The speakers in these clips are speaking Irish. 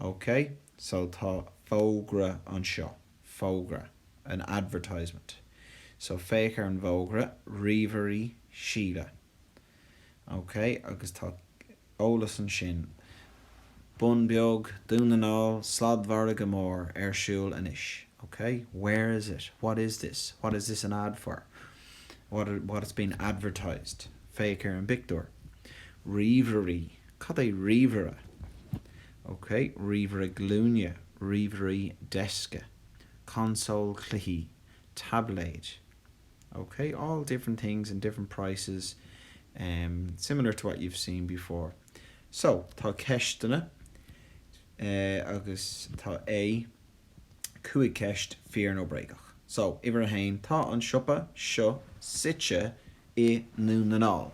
Ok, so tá fógra anseo. Fógra. An advertisement. So féach ar an bhfógra, Ríomhairí Síle. Ok, agus tá eolas ansin. Bun Beag, Dún na nGall, Sladmhargadh Mór ar siúl anois. Ok, where is it? What is this? What is this an ad for? What, what has been advertised? Féach ar an bpictiúr. Ríomhairí. Cad é ríomhaire? Ok, ríomhaire glúine, ríomhairí deisce, consól cluichí, taibléid. Ok, all different things and different prices, similar to what you've seen before. So, tá ceisteanna agus tá A 5 ceist fíor nó bréagach. So, uimhir 1, Tá an siopa seo suite i nDún na nGall.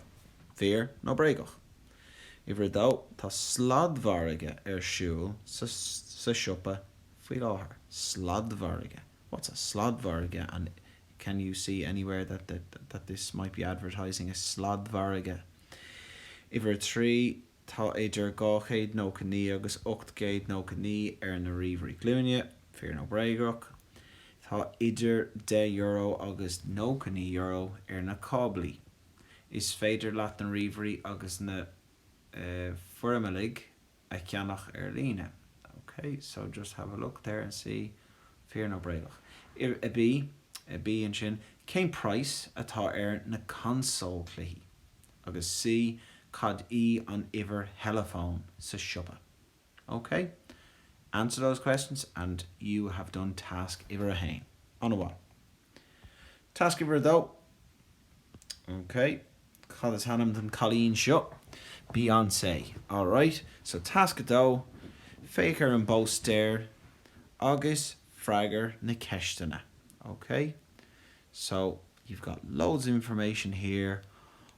Fíor nó bréagach? Uimhir a dó, tá sladmhargadh ar siúl sa siopa faoi láthair. Sladmhargadh? What's a sladmhargadh and can you see anywhere that this might be advertising a sladmhargadh? Uimhir a trí, tá idir dhá chéad nócha naoi agus ocht gcéad nócha naoi ar na ríomhairí glúine. Fíor nó bréagach? Tá idir deich euro agus nócha naoi euro ar na cáblaí. Is féidir leat na ríomhairí agus na forimeallaigh a cheannach ar líne. OK, so just have a look there and see. Fíor nó bréagach? A, B, a B ansin, cén price atá ar na consóil cluichí? Agus C, cad í an uimhir theileafóin sa siopa? OK? Answer those questions and you have done task uimhir a haon. An-mhaith. Task uimhir a dó. Ok, cad is ainm don cailín seo? Beyoncé. Alright, so tasc a dó, féach ar an bpóstaer agus freagair na ceisteanna. Ok? So, you've got loads of information here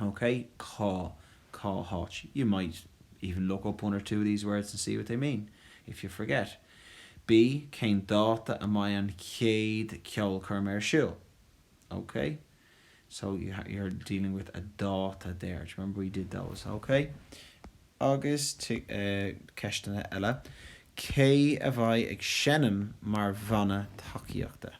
OK, cá, cá háit? You might even look up one or two of these words and see what they mean, if you forget. B, Cén dáta a mbeidh an chéad cheolchoirm ar siúl? OK? So, you're dealing with a dáta there. Do you remember we did those? OK? Agus, eh, ceisteanna eile. Cé a bheidh ag seinm mar bhanna tacaíochta?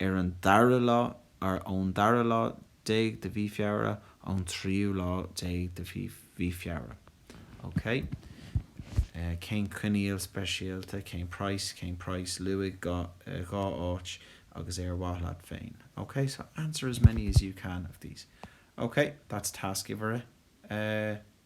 ar an dara lá, or ón dara lá déag de mhí Feabhra, ón tríú lá déag de mhí, mhí Feabhra. OK? Eh, cén coinníoll speisialta, cén price, cén price, luaigh dhá, eh, dhá áit agus ar mhaith leat féin. OK? So, answer as many as you can of these. OK? That's task uimhir a, eh,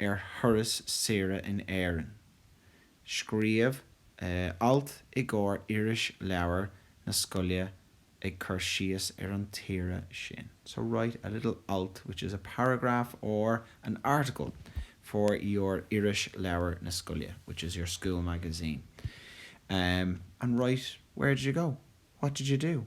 ar thuras saoire in Éirinn. Scríobh alt i gcomhair Irisleabhar na Scoile ag cur síos ar an tsaoire sin, so write a little alt which is a paragraph or an article for your Irisleabhar na Scoile, which is your school magazine, and write where did you go, what did you do?